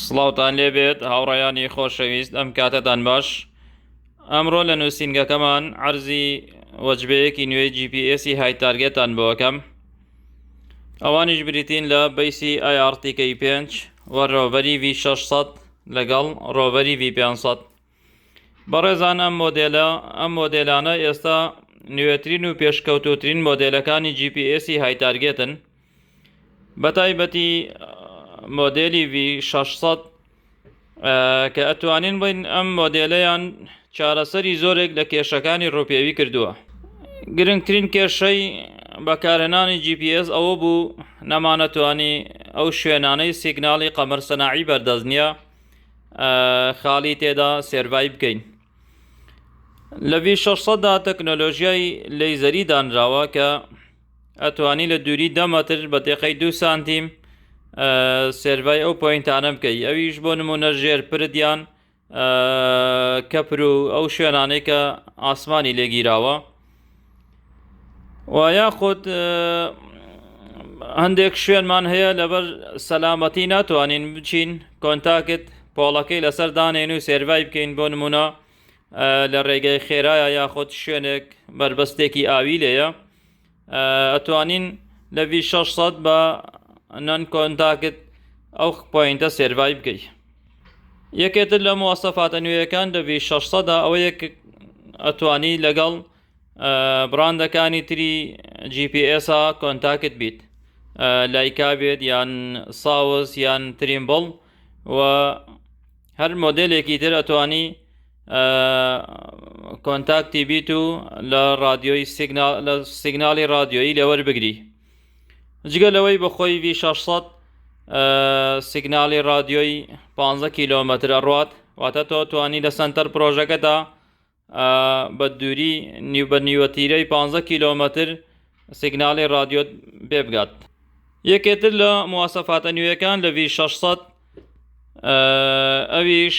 سڵاوتان لێبێت هاوڕێیانی خۆشەویست ئەم کاتەتان باش ئەمڕۆ لە نووسینگەکەمان ئەرزی وەجبەیەکی نوێی جیPSی های تارگێتان بۆەکەم ئەوانیش بریتین لە بەیسی ئایارتیکەی پێنج و ڕۆبەری V600 لەگەڵ ڕۆبەری V500 بەڕێزان ئەم مۆدێلە ئەم مۆدێلانە ئێستا نوێترین و پێشکەوتوترین مۆدێلەکانی جیPSی های تارگێتن بە تایبەتی مۆدێلی V600 کە ئەتوانین بڵین ئەم مۆدێلەیان چارەسەری زۆرێک لە کێشەکانی ڕوپێوی کردووە گرنگترین کێشەی بەکارهێنانی GPS ئەوە بوو نەمانەتوانی ئەو شوێنانەی سیگناڵی قەمەرسەناعی بەردەست نییە خاڵی تێدا سێرڤای بکەین لە ڤی 600 دا تەکنۆلۆژیای لەیزەری دانراوە کە ئەتوانی لە دووری دەمەتر بە تێقەی دو سانتیم سێرڤای ئەو پوینتانە بکەی ئەویش بۆ نمونە ژێر پردیان کەپر و ئەو شوێنانەی کە ئاسمانی لێگیراوە و یاخود هەندێک شوێنمان هەیە لەبەر سەلامەتی ناتوانین بچین کۆنتاکت پۆڵەکەی لەسەر دانێن و سێرڤای بکەین بۆ نمونە لە ڕێگەی خێرایە یاخود شوێنێک بەربەستێکی ئاوی لێە ئەتوانین لە 600 بە نەن کۆنتاکت ئەو پوینتە سێرڤای بکەیت یەکێتر لە موواسەفاتە نوێیەکان لە ڤی شەش سەدا ئەوەیە ک ئەتوانی لەگەڵ بڕاندەکانی تری جی پی ئێسا کۆنتاکت بیت لایکا بێت یان ساوس یان تریمبڵ و هەر مۆدێلێکی تر ئەتوانی کۆنتاکتی بیت و لە ڕادیۆی سیگناڵ لە سیگناڵی ڕادیۆیی لێوەربگری جگە لەوەی بە خۆی ڤی 600 سیگنالی رادیۆی 15 کیلۆمەتر ئەڕوات واتە تۆ توانی لە سنتەر پرۆژەکەدا بە دووری نیو بە نیوەتیرەی 15 کیلۆمەتر سیگنالی رادیۆت بێ بگات یەکێتر لە موواسەفاتە نوێیەکان لە ڤی 600 ئەویش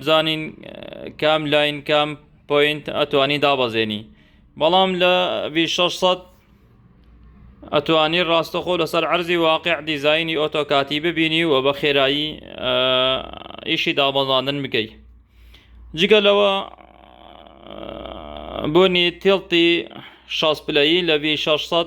بزانین کام لاین کام پوینت ئەتوانی دابەزێنی بەڵام لە 600 ئەتوانی ڕاستەخۆ لەسەر عەرزی واقع دیزایانی ئۆتۆکاتی ببینی و بە خێرایی ئیشی دابەزاندن بکەیت جگە لەوە بۆنی تێڵتی شاز پلەی لە 600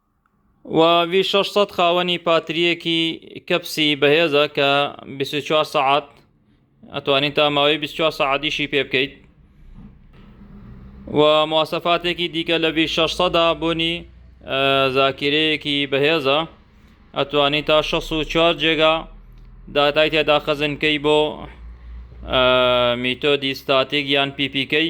و ڤی شەش سەد خاوەنی پاتریەکی کەپسی بەهێزە کە 24 سعات ئەتوانین تا ماوەی 24 سعادیشی پێ بکەیت و مواسەفاتێکی دیکە لە ڤی شەش سەدا بوونی زاکیرەیەکی بەهێزە ئەتوانی تا 64 جێگا داتای تێدا خەزنکەی بۆ میتۆدی ستاتیک یان پیپیکەی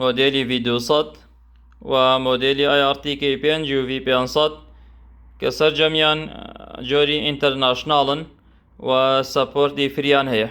مۆدێلی ڤی دوو سەد و مۆدێلی ئای ئاڕ تی کەی پێنج و ڤی پێنج سەد کە سەرجەمیان جۆری ئینتەرناشناڵن و سەپۆرتی فریان هەیە.